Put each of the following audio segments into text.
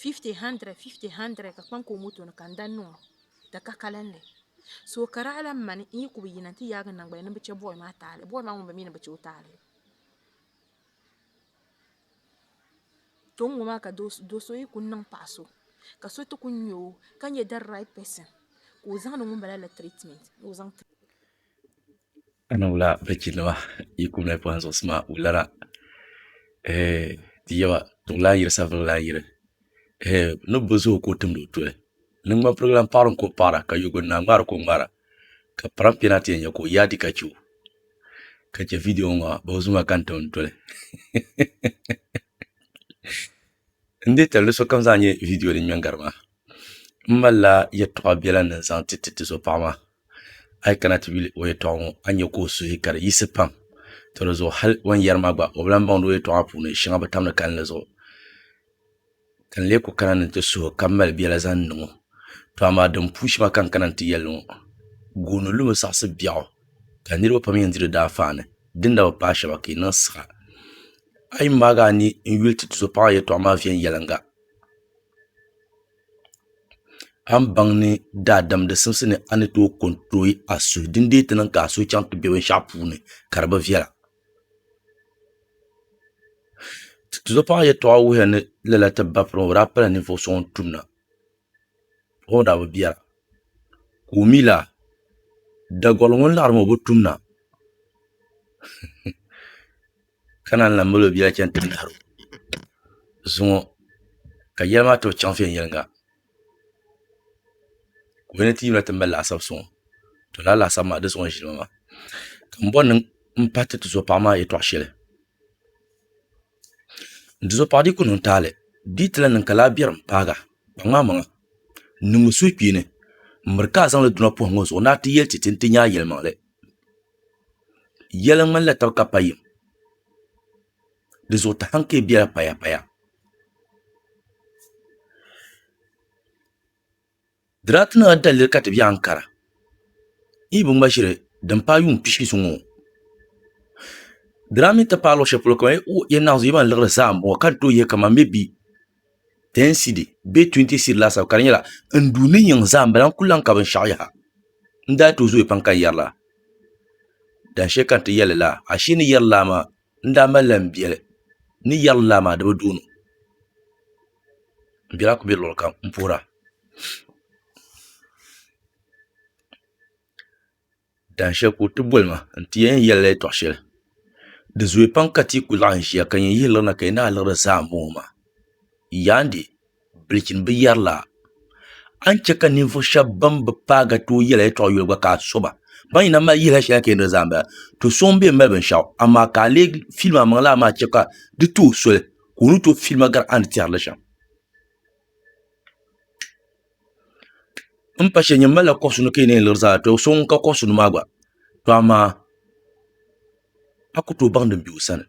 50 100 50 100 ka kpaŋ ka o moto ni ka n dan niŋo di ka kalinli so ka daa lan mani n yi ku bi yina n ti yaagi n nangbani ni n bi chɛ bɔy maa taali bɔy maa ŋun bi mi ni bi chɛ o taali to n ŋo maa ka do so yi ku niŋ paɣa so ka so ti ku nya o ka nyɛ di right person ka o zaŋdi ŋunbala la treatment ni o zaŋ tiri o Ana wula bɛchi nima yi kum lahi pɔhim zuɣusi maa wulara ɛɛh ti yaba tiwula yiri sabiri lana yiri ɛɛh ni bi zooyi ka o timdi o tuli ni ŋman pirigi lana paɣiri ka o paɣira ka yoguni naa ŋmaari ka o ŋmaara ka piraŋ pɛna ti yɛn nya ka o yaadi ka che o ka che vidiyo ŋɔ maa bɛ zuma ka n tim doli n dee tali ni sokam zaa nya vidiyo din ŋmɛ n gari maa. N malila yɛltɔɣa biɛla ni n zaŋ ti tizo paɣa maa a yi kana ti yuli o yɛltɔɣa ŋo a ni nyɛ ka o suhu ka di yiɣisi pam to dizuɣu hali o ni yɛri maa gba o bi lahi baŋdi o yɛltɔɣa maa puuni shɛŋa bi tamdi kalinli zuɣu ka n lee ku kana ni n ti suhu ka mali biɛla zaŋ niŋ o to amaa din puu shɛŋa ka n kana ni n ti yɛli ŋo gooni lumi zaɣasi biɛɣu ka niraba pam yɛn di di daa faani din na bi paai shɛŋa ka yi niŋ siɣa a yi maagi a ni n yuli ti tizo paɣa maa yɛltɔɣa maa viɛnyɛlinga A ni baŋ ni daadam di simsi ni a ni tooi kontiro a suhu din deei ti niŋ ka a suhu chaŋ ti bɛ binshaɣu puuni ka di bi viɛla tizuɣupaŋɔ yɛltɔɣa wuhiya ni lala ti ba piriŋɔ o daa pala ninvuɣu so ŋun tumda o daa bi viɛla ka o mi laa Daguli ŋun laɣari maa o bi tumda ka naan lan mali o bia chɛni ti nahir o zuŋɔ ka yɛli maa tooi chaŋ viɛnyɛliŋga ka o ni ti yimina ti mali laasabu zuŋɔ to lala laasabu maa di zuŋɔ n-ʒini ŋɔ maa ka m bɔri ni m pahi ti tizɔpaɣ maa yɛtɔɣ shɛli n tizɔpaɣ dii ku niŋ taali di yi ti lan niŋ ka laa biɛrim paaga kpaŋmi a maŋa n-niŋmi suhukpeeni m-miri ka a zaŋ li duna pɔhim ŋɔ zuɣu ni a ti yɛli ti ti ni ti nya a yɛlimaŋli Yɛli ŋmanila taba ka pa yim. Di zuɣu tahaŋ ka yi bela paya paya. Diraati nima daliri ka ti be ankara. N yi bi ŋma ʒiri din paai yuun pishi zuŋɔ. Diraamita paai luɣ sheli polo ka yi naɣim zuɣu yi ban liɣiri zaa m boŋɔ ka ni tooi yɛ ka man maybe. ten cedi bee twenty cedi laasabu ka di nyɛla n duu ni yiŋ zaa n bala n ku lahi ka binshaɣu yaha n daa tooi zooya pam ka n yɛri laa dahin shɛli ka n ti yɛli laa ashe ni yɛri laa maa n daa malila n biɛli ni yɛri laa maa di bi dooni n biɛla ku bɛ luɣuli kam n puhura Dahin shɛli ka o ti boli ma n ti yɛn yɛli la yɛltɔɣa shɛli di zooya pam ka tia ku laɣam ʒiya ka nyɛ yihi lirina ka yi naanyi liri zaa n boŋo maa yaa ni bilichini bi yɛri laa a ni chɛ ka ninvuɣu shab ban bi paai ka tooi yɛli yɛltɔɣa yoli gba ka a soba ban yina mali yihili shɛli ka yi ni diri zaa n bala to so n biɛni mali binshaɣu amaa ka a lee fiili maa maŋ laa maa chɛ ka di tooi soli ka o ni tooi fiili maa gari a ni tɛri li shɛm N pa shɛli nyɛ n malila koɣa suni ka yi na yɛn liɣiri zaa to so ŋun ka koɣa suni maa gba to amaa a ku tooi baŋdi n bɛ o sani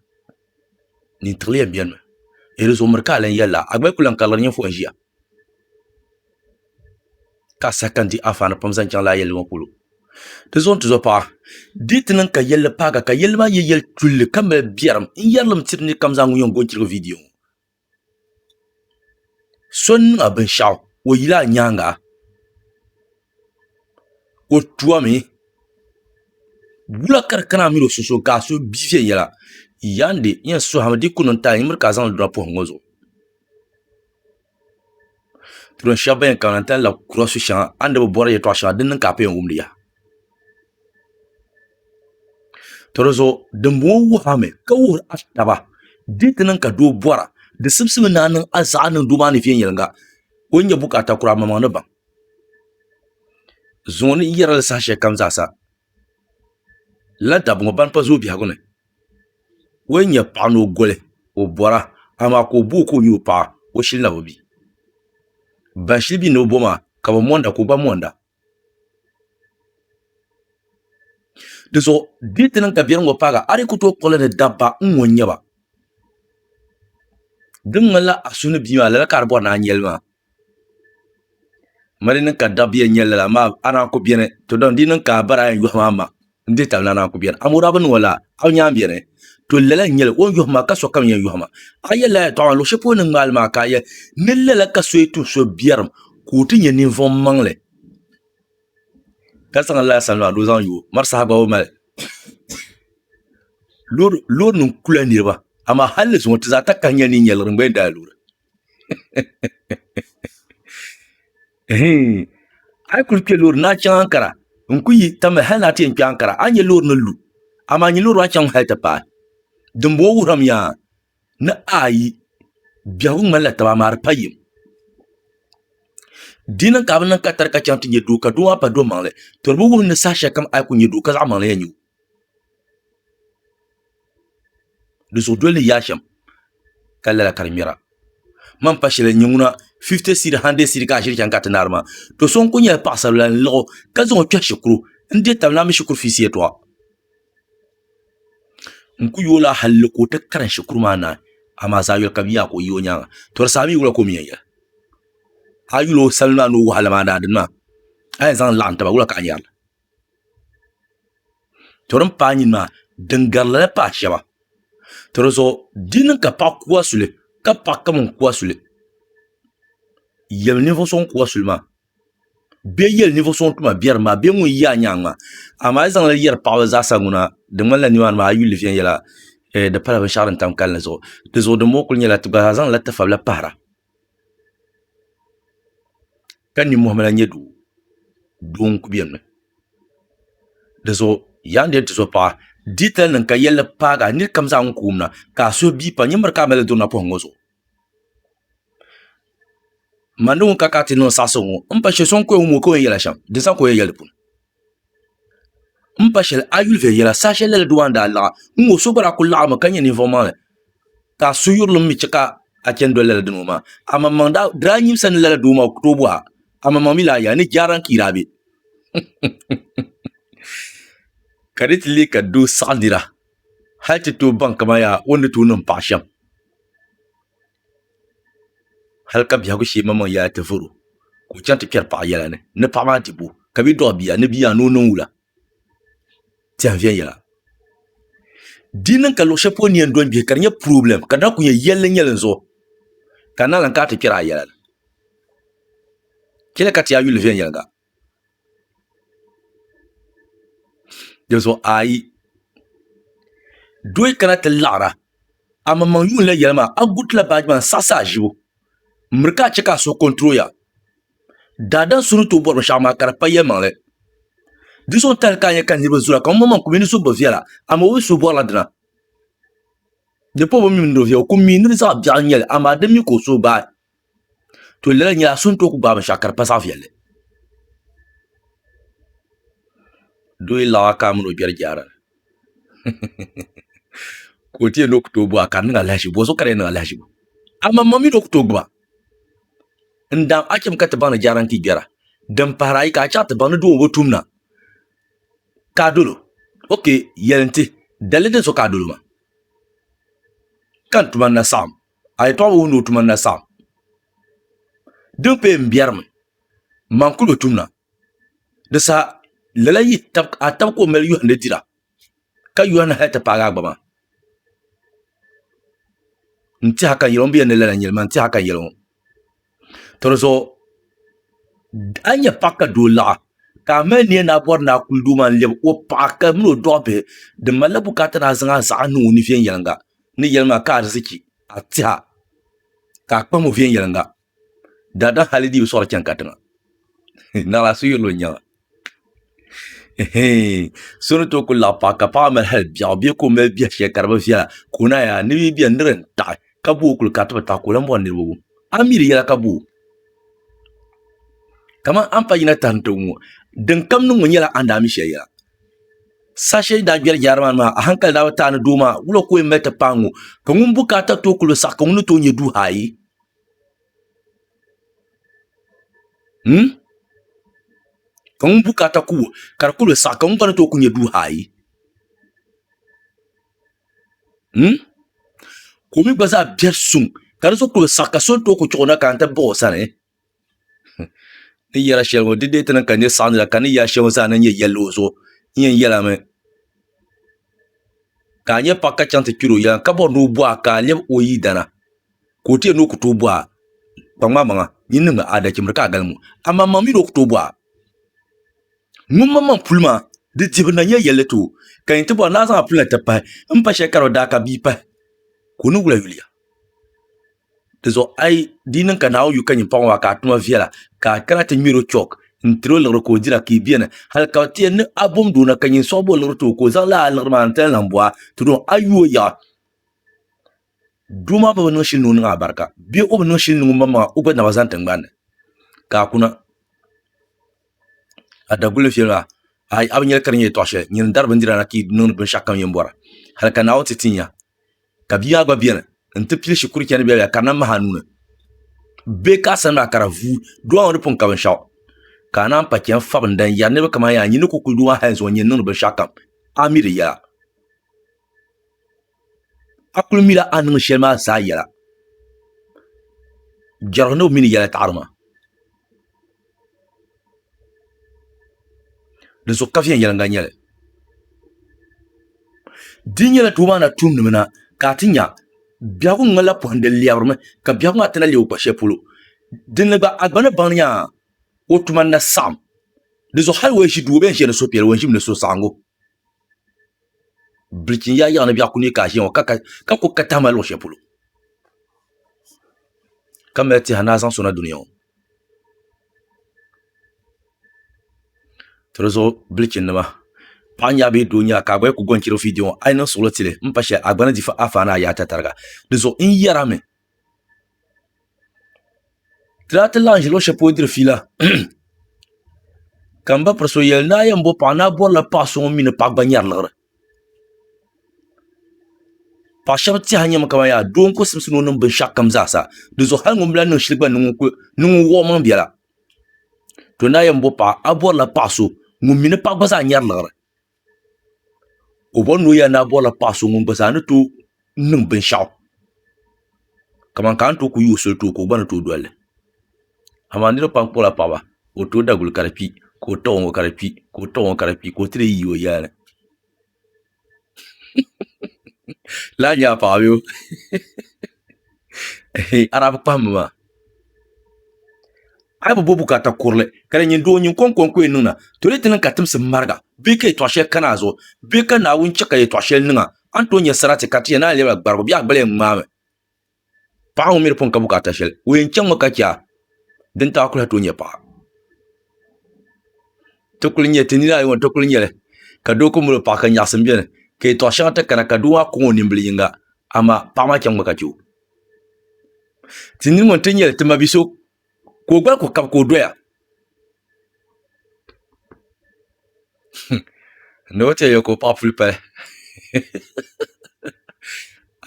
nin tiɣili yɛn biɛni mi ni di zuɣu miri ka a lahi yɛlila a gba yi ku lahi karili ninvuɣu n ʒiya ka a saha ka n di anfaani pam zaŋ chaŋ lala yɛlli ŋɔ polo di zuɣu n tizo paɣa di yi ti niŋ ka yɛlli paagi ka yɛlli maa nyɛ yɛli tulli ka mali biɛrim n yɛrilim tiri nira kam zaa ŋun yɛn goni chirigi viidiyo ŋɔ So n niŋ a binshaɣu o yila a nyaanga o tuomi wula ka di kana a mii ni o so suhuri ka a so bia viɛnyɛla yandi n yɛn suhurimi di yi ku niŋ taai n miri ka a zaŋdi dina poham ŋo zuɣu tuun shab ban yɛn kana n ti lahi kura su shɛm a ni bi bori yɛltɔɣa shɛŋa din niŋ ka a pun yɛn wumdi yaha To di zuɣu dimbɔŋɔ wuhi a mi ka wuhiri a taba di ti niŋ ka doo bɔra di simsimi ni a niŋ a zaɣa niŋ doo maa ni viɛnyɛliŋga ka o ni nyɛ bukaata kura a maŋmaŋ ni baŋ zuŋɔ ni yɛri li saha shɛli kam zaa sa lala dabba ŋɔ ban pa zooi biɛhigu ni o yɛn nyɛ paɣa ni o goli o bɔra amaa ka o bo o ka o nyɛ o paɣa o shili na bi mi ban shili mi ni bi bo maa ka bi monda ka o gba monda. Di zuɣu di ni ti niŋ ka biɛri ŋɔ paaga a di ku tooi kpuɣili ni dabba n ŋɔ n-nyɛ ba. Di ni ŋmanila a suhu ni bia maa lala ka a ni bɔri ni a nya li maa. Amaa di ni niŋ ka dabba yɛn nya lala amaa a ni a ku beni tɔdɔn di ni niŋ ka a bari a yɛn yɔhi maa ma. N dihi tabili naan a ku beni. Amɔrabi nima la, a nya m-beni? To lala n-nyɛ li, o ni yɔhi ma, ka sokam yɛn yɔhi ma. A yɛli la ya tɔɣu maa luɣ shɛli polo ni ŋmaai li maa ka a yɛli ni lala ka so yi tuhi so biɛrim ka o ti nyɛ ninvuɣimmaŋli ka zaŋ lala sani maa ni o zaŋ yo o. Mari saha gba o mali. Loorinim kula niriba, amaa hal di zuŋɔ ti zaa takahi nya ninyɛliɣiri n-gba yɛn daai loori. a yi kuli kpɛ loori ni a chɛŋ ankara n ku yi tamya hali ni a ti yɛn kpɛ ankara a ni nyɛ loori ni lu amaa nyini loori maa chɛŋ mi hali ti paai dinbɔŋɔ wuhurimiya ni a yi biɛhagu ŋmanila taba amaa di pa yim di niŋ ka a bi niŋ katari ka chɛŋ ti nyɛ doo ka doo maa pa do maŋli to di bi wuhi ni saha shɛli kam a ni ku nyɛ doo ka zaɣ maŋli yɛn nyɛ o di zuɣu dol ni yaa shɛm ka lala ka di ŋmɛra man pa shɛli n nyɛ ŋuna fifti siid handirɛd siid ka ʒiri chɛŋ ka ti naari maa do so n ku nyɛ paɣasari bili la n lɣi o ka zaŋ o kpɛhi shikuru n deei tabi naa mini shikuru fiisi yɛltɔɣa n ku yoola halli ka o ti karim shikuru maa naai amaa zaɣ yini kam yiya ka o yi o nyaanga to di saha mii wula ka o mii yɛn yɛli a yi yuli o salima maa ni o wahala maa ni a dini maa a yɛn zaŋ laɣam taba wula ka a ni yɛrili to din paai nyini maa din gari lala paai shɛba to di zuɣu di niŋ ka paɣa kuhi a suli ka paɣa kam n kuhi a suli yɛli ninvuɣu so ŋun kuhi a suli maa bee yɛli ninvuɣu so ŋun tuma bɛ dinni maa bee ŋun ʒɛ a nyaangi maa amaa a yi zaŋ lala yɛri paɣaba zaasa ŋuna di ŋmanila nimaani maa a yi yuli li viɛnyɛla di pala binshaɣu din tam kalinli zuɣu dinzuɣu dinbɔŋɔ kuli nyɛla ti gba zaa zaŋla tafabila pahara ka ninmohi mali nyɛ doo doo n ku biɛni mi dizuɣu yaan lihi tizuɣu paɣa diitali nim ka yɛlli paagi a ni yuli kam zaa ŋun koom na ka a suhu bii pam nyini miri ka a mali li durina poham ŋɔ zuɣu mani ŋun ka kana ti niŋ saɣasigu ŋɔ n pa shɛ so n koya ŋɔ maa o kabi o ni yɛn yɛli a shɛm n pa shɛli a yuli viɛnyɛla saha shɛli lala doo maa ni daa laɣi n ŋɔ so gba lahi kuli laɣimi ka nyɛ ninvuɣ maŋli ka a suyirili mi che ka a chani doli lala dino maa amaŋmaŋ di daa nyimsa ni lala doo maa o ku tooi bɔhi a amaŋmaŋ mi lahi yɛli a ni jaara n ka yi daa be ka di ti lee ka doo saɣi nira hali ti tooi baŋ ka maa yaa o ni tooi niŋ paɣ shɛm hali ka biɛhigu shee maŋmaŋ yɛla ti voro ka o chaŋ ti kpɛri paɣa yɛla ni ni paɣa maa ti bo ka bɛ dɔɣi bia ni bia yaa ni o niŋ wula tɛha viɛnyɛla di niŋ ka luɣ shɛli polo ni yɛn dɔni gbihi ka di nyɛ pirɔblɛm ka di lahi ku nyɛ yɛlli nyɛli n zuɣu ka a naai lahi kana ti kpɛri a yɛla chɛli ka ti yaa yuli viɛnyɛliŋga Di zuɣu a yi doi kana ti laɣara a maŋmaŋ yuun la yɛli maa a guritila baaji maa n-saɣisi a ʒibu m-miri ka a chɛ ka a suhu kɔnturoya. Daadam so ni tooi bɔri binshɛɣu maa ka di pa yɛlimaŋli. Di zuɣu n-tali ka a nya ka niriba zooya ka ŋumbɔŋɔ maa ku mi ni suhu bi viɛla amaa o bi suhu bɔrila dina. Di pɔbu mi mini di viɛbu kum mi ni di zaɣ biɛɣu n-nyɛ li amaa di mi ka o suhu baai. to lala nyɛla so ni tooi ku gbaai binshaɣu ka di pa zaɣ viɛlli doo yi laɣam akaa mini o biɛri jaara ni ka o ti yɛli ni o ku tooi gbuba ka di niŋ alahachi bɔso ka di yɛn niŋ alahachi bu amaŋmaŋ mii ni o ku tooi gbuba n daam a chɛmi ka ti baŋ ni jaara n ti gbɛra din pahari ayi ka a chaŋ ti baŋ ni doo ŋɔ bi o tumda ka a dolo ok yɛli n ti dalili din so ka a dolo maa ka n tuma ni na saɣam a yɛtɔɣa bi wuhi ni o tuma na saɣim. Din pee m-biɛrimi, man kul bi tumda. Di saha lala yi tab a tab ka o mali yɔhindi dira, ka yɔhindi hal ti paagi a gba maa. N-tiɛha ka n yɛli ŋɔ, n bi yɛli ni lala n-yɛli maa, n-tiɛha ka n yɛli ŋɔ. To di zuɣu a nyɛ paɣa ka doo laɣa ka a mali niɛn ni a bɔri ni a kuli doo maa n lɛbi o paɣa ka mini o dɔɣi bihi di malila bukaata ni a zaŋ a zaɣa niŋ o ni viɛnyɛlinga ni yɛli maa ka ariziki a tiha ka a kpahim o viɛnyɛlinga daadam hali di bi sɔɣiri chani katiŋa naɣila so yɛlli o nyaŋa so ni tooi ku laɣa paɣa ka paɣa mali hali biɛɣu bee ka o mali biɛha shɛli ka di bi viɛla ka o naai yaa ni bia biɛni nira n taɣi ka bo o kuli ka ti bi taɣi ka o lahi bɔri niraba wum a ni mi di yɛla ka bo kamani a ni pa yina taha ni ti wum ŋɔ din kam niŋ ŋɔ nyɛla a ni daa mi shɛli yɛla saha shɛli ni daa kpɛri jaara maa ni maa a hankali daa bi taai ni doo maa wula ka o yɛn mali ti paai ŋɔ ka ŋun bukaata tooi ku bi saɣi ka ŋuni tooi nyɛ duuhaa ayi Hmm? Ka ŋun bukata ku ka di kuli saɣi ka ŋun kana tooi ku nyɛ duuhi ayi. Hmm? Ka o mi gba zaa biɛri suŋ ka di zuɣu kuli saɣi ka so tooi ku chuɣu na ka n ti baɣi o sani. Ni yɛla shɛli ŋɔ di deei ti niŋ ka nir saɣindi la ka ni yɛli shɛli ŋɔ zaa na nyɛ yɛlli o zuɣu n yɛn yɛla mi ka a nyɛ paɣ ka chaŋ ti kpir o yɛla n ka bɔri ni o bɔhi a ka a lɛbi o yidana. ka o teei ni o ku tooi bɔha kpaŋ maa maŋa nyin niŋmi adachimbiri ka a galim ŋɔ, amaa maŋ mi ni o ku tooi bɔha ŋunmaŋmaŋ puli maa. Di dihibu na nyɛla yɛlli ti o, ka yin ti bɔri ni a zaŋ a puli na ti pahi m-pa shɛli ka di bi daa ka bia pahi, ka o ni wula yuliya. Dinzuɣu a yi di yi niŋ ka Naawuni yu ka nyin paɣ ŋɔ maa ka a tuma viɛla, ka a kana ti ŋmɛr o chɔk n-tir o liɣiri ka o dira, ka yi beni hal ka ti yɛli ni a bomd o na ka nyin sɔɣib o liɣiri ti o ka o zaŋ lala liɣiri maa n-ti lan lan bɔha ti dɔŋ a yu o yaɣa. Doo maa bi niŋ shili ni o niŋ a barika bee o bi niŋ shili ni ŋun maŋmaŋa o gba naba zaŋ tingbanni ka a kuna a daguli viɛli maa a bi nyɛli ka di nyɛ yɛltɔɣa shɛli nyini n dari bindira na ti yi niŋdi binshaɣu kam yɛn bɔra hali ka Naawuni ti ti n ya ka bia maa gba biɛni n ti pili shikuru chɛni viɛla viɛla ka di na mahi a nuuni bee ka a sani maa ka di vuui doo maa ŋun di pun ka binshaɣu ka a naan pa chɛni fabinda n yɛri niraba kamani yaa n yi ni ku kuli doo maa hali zuŋɔ n yɛn niŋdi binshaɣu kam a mi di yɛla a kuli mila a ni niŋ shɛli maa zaa yɛla jɛrigu ni o mi ni yɛla taɣiri maa din so kafiya yɛliŋga nyɛli di nyɛla doo maa na tumdimi na ka a ti nya biɛhigu ŋmanila pɔhim di lɛbirimi ka biɛhigu maa ti na leei o kpa shɛli polo dinni gba a gba ni baŋ ni nya o tuma ni na saɣim dinzuɣu hali o yi ʒi duu o bɛn ʒiya ni suhupiɛlli o yɛn ʒimi ni suhusaɣingu bilichin ya yaɣa ni biɛɣu ku neei ka a ʒiya ŋɔ ka ku ka tahima luɣ shɛli polo ka mali tɛha ni a zaŋ sona duniya ŋɔ to di zuɣu bilichin nima paɣa nyɛla bee doo nyɛla ka a gba yɛn ku gɔnchiri viidiyo ŋɔ a yi niŋ suɣulo tili n pa shɛli a gba ni di afaani a yaata tariga dinzuɣu n yɛrimi Laati lan ʒi luɣu shɛli polo diri fiila ka n ba piri so yɛli naa yɛn bo paɣa naa bɔrila paɣa so ŋun mii ni paɣa gba nyɛri liɣiri paɣa shab tiɛha n nyɛma kamani yaa doo n ku simsim o niŋ binshaɣu kam zaa sa dinzuɣu hali ŋun lahi niŋ shili gba ni ŋun wuɣi o maŋ biɛla to naa yɛn bo paɣa a ni bɔrila paɣa so ŋun mii ni paɣa gba zaa nyɛri liɣiri o bɔri ni o yɛn daa bɔrila paɣa so ŋun gba zaa ni tooi niŋ binshaɣu kamani ka a ni tooi ku yi o soli too ka o gba ni tooi dolili amaa niraba pam kpuɣula paɣaba ka o tooi daguli ka di kpi ka o taba ŋɔ ka di kpi ka o taba ŋɔ ka di kpi ka o ti lee yi o yɛli ni lala nyɛla paɣa bee a daa bi kpaham mi maa A bi bo bukaata kurili ka di nyini doo nyin kɔŋkɔŋ ka o yɛn niŋna, toli di niŋ ka timsi mariga bee ka yɛtɔɣ shɛli kani a zuɣu bee ka Naawuni chɛ ka yɛtɔɣ shɛli niŋ a, a ni tooi nya sarati ka ti yɛn naai lɛbi a gbarigu bee a gbali yɛn ŋmaami. Paɣa ŋun mi di pun ka bukaata shɛli, o yɛn chaŋmi ka chɛ a, dintali a kul lahi tooi nya paɣa. Ti kul nya, ti nini ayi ŋɔ ti kul nya li ka doo ku mali o paɣa ka nyaɣisim beni ka yɛtɔɣ shɛŋa ti kana ka doo maa kɔŋ o nimbili yiŋga amaa paɣa maa chaŋmi ka chɛ o. ti nini ŋɔ n-ti nya li ti ma bi so ka o gbali ko kab ka o doya ni o ti yɛn yɛli ka o paɣa puli pali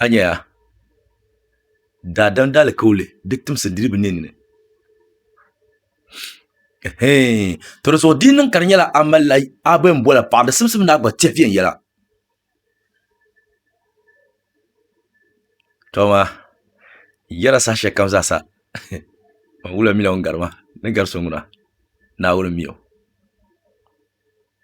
a nya ya daadam daalikauli di timsi diri bi nini ni ɛhɛin tɔdi zuɣu di yi niŋ ka di nyɛla a malila a bɛn boli paɣa di simsim ni a gba tɛhi viɛnyɛla to maa n yɛla saha shɛli kam zaa sa n wula mi la ŋun gari ma ni gari so ŋuna Naawuni mi o